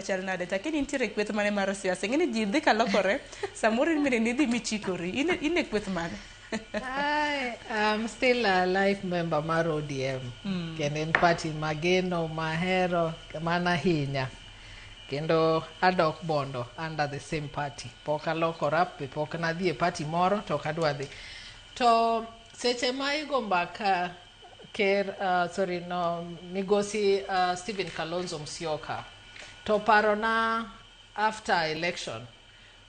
chal nade chak in intiere e kweth mane mar siasa ing'e ni ji dhi ka lokore samoro in bende nidhi michikori in in e kweth mane Hi, I'm still a life member mar ODM kendo en party mageno mahero mana hinya kendo adok bondo under the same party pok alokora be pok nadhi e party moro to ok adwa dhi to seche ma igo mbaka Ker, uh, sorry, no, Migosi uh, Stephen Kalonzo Musyoka. To parona after election,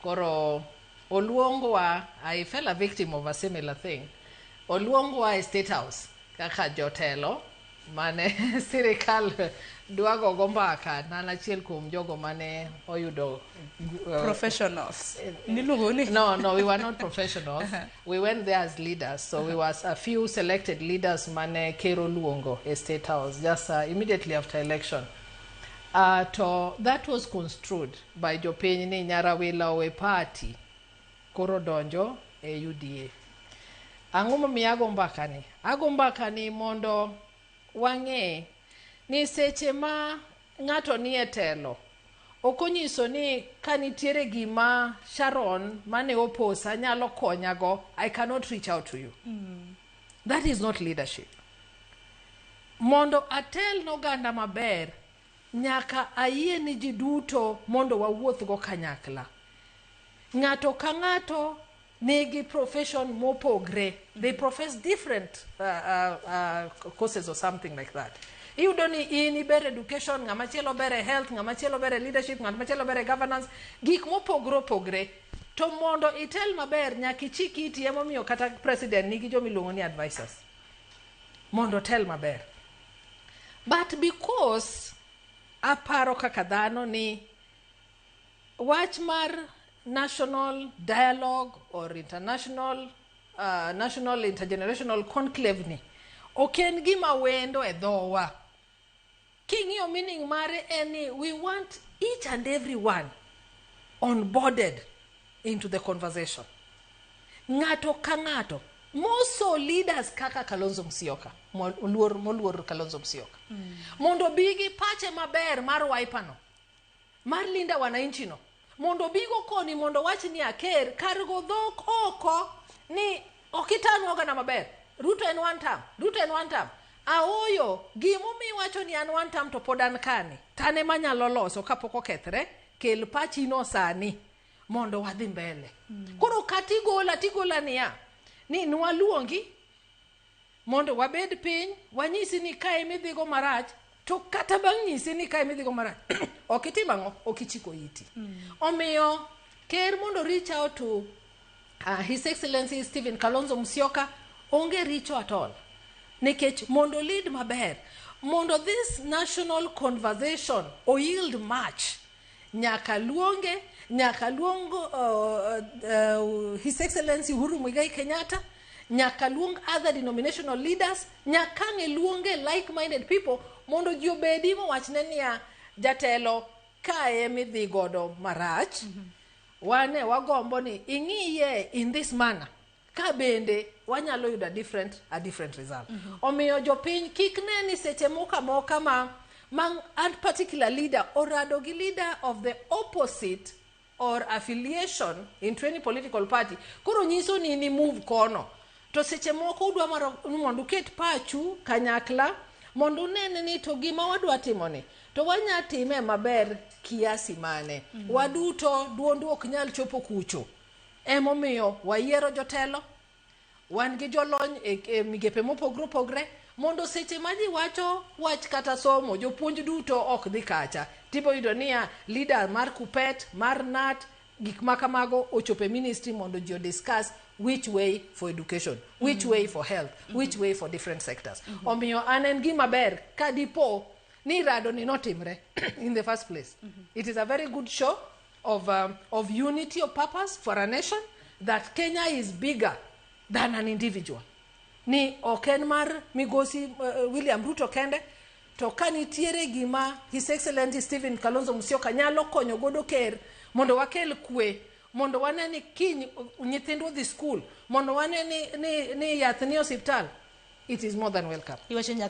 koro Oluongwa, I fell a victim of a similar thing. Oluongwa e State House kaka jotelo mane sirikal dwago go mbaka na an achiel kuom jogo mane oyudo uh, Professionals. Niluongo ni? no no we were not professionals We went there as leaders, so we was a few selected leaders mane Ker oluongo e State House just uh, immediately after election. Uh, to that was construed by jopiny ni Nyarawila owe party koro donjo e UDA. Ang'o momiyo ago mbaka ni? Ago mbaka ni mondo wang'e ni seche ma Ng'ato ni e telo. Ok onyiso ni ka nitiere gima Sharon mane oposa nyalo konyago, I cannot reach out to you. That is not leadership. Mondo atel n'oganda maber, nyaka ayie ni ji duto mondo wawuothgo kanyakla. Ng'ato ka ng'ato nigi profession mopogre. They profess different uh, uh, uh, courses or something like that. Iyudo ni in iber education, ng'ama chielo ber e health, ng'ama chielo ber e leadership, ng'ama chielo ber e governance, gik mopogre opogre. To mondo itel maber nyaka ichik iti emomiyo kata president nigi joma iluongo ni advisors. Mondo otel maber. But because aparo kaka dhano ni Wach mar national dialogue or international uh, national intergenerational conclave ni ok en gima wendo e dhowa king'iyo meaning mare en ni we want each and every one onboarded into the conversation ng'ato ka ng'ato moso leaders kaka kalonzo msioka moluor moluor kalonzo msioka mm. mondo bi gi pache maber mar waipano Mar Linda Wananchi no mondo obigo koni mondo wach ni aker kar go dhok oko ni okitanu ogana maber Ruto en one term Ruto en one term aoyo gimumi wacho ni an one term to pod an kani tane manyalo loso kapok okethre kel pachi no sani mondo wadhi mbele mm. koro katigola tigola niya ni nwaluongi Mondo wabed piny, wanyisi ni ka ema idhigo marach, to kata bang' nyisi ni ka ema idhigo marach, ok itim ang'o? Ok ichiko iti. Omiyo, ker mondo reach out to uh, His Excellency Stephen Kalonzo Musyoka, onge richo at all. Nikech mondo lead maber, mondo this national conversation o yield much, nyaka luonge nyaka luong uh, uh, his excellency uhuru mwigai kenyatta nyaka luong other denominational leaders nyaka ng'e luonge like minded people mondo ji obedi mowachne niya jatelo kae midhi godo marach mm -hmm. wane wagombo ni ing'iye in this manner ka bende wanyalo yudo a different, a different result mm -hmm. omiyo jopiny kik ne ni seche moko amoka ma ma a particular leader orado gi leader of the opposite or affiliation into any political party koro nyiso ni ni move kono to seche moko udwa maro ni mondo uket pachu kanyakla mondo unene ni to gima wadwa timoni to wanya time maber kiasi mane mm -hmm. waduto duondu ok nyal chopo kucho Emomiyo wayiero jotelo, wan gi jolony e, e migepe mopogre opogre mondo seche ma ji wacho wach kata somo, jopuonj duto ok dhi kacha. Tibo yudo niya, leader mar Kuppet, mar NAT, gik ma kamago ochopo e ministry mondo ji odiscuss which way for education, which way for health, which way for different sectors. Omiyo an en gima ber ka dipo ni rado ni notimre in the first place. It is a very good show. of, um, of unity of purpose for a nation that Kenya is bigger than an individual. Ni ok en mar migosi uh, William Ruto kende to ka nitiere gima His Excellency Stephen Kalonzo Musyoka nyalo konyo godo ker mondo wakel kwe mondo wane ni kiny uh, nyithindwa dhi skul mondo wane ni, ni, ni yath ni osiptal it is more than welcome. Iwacho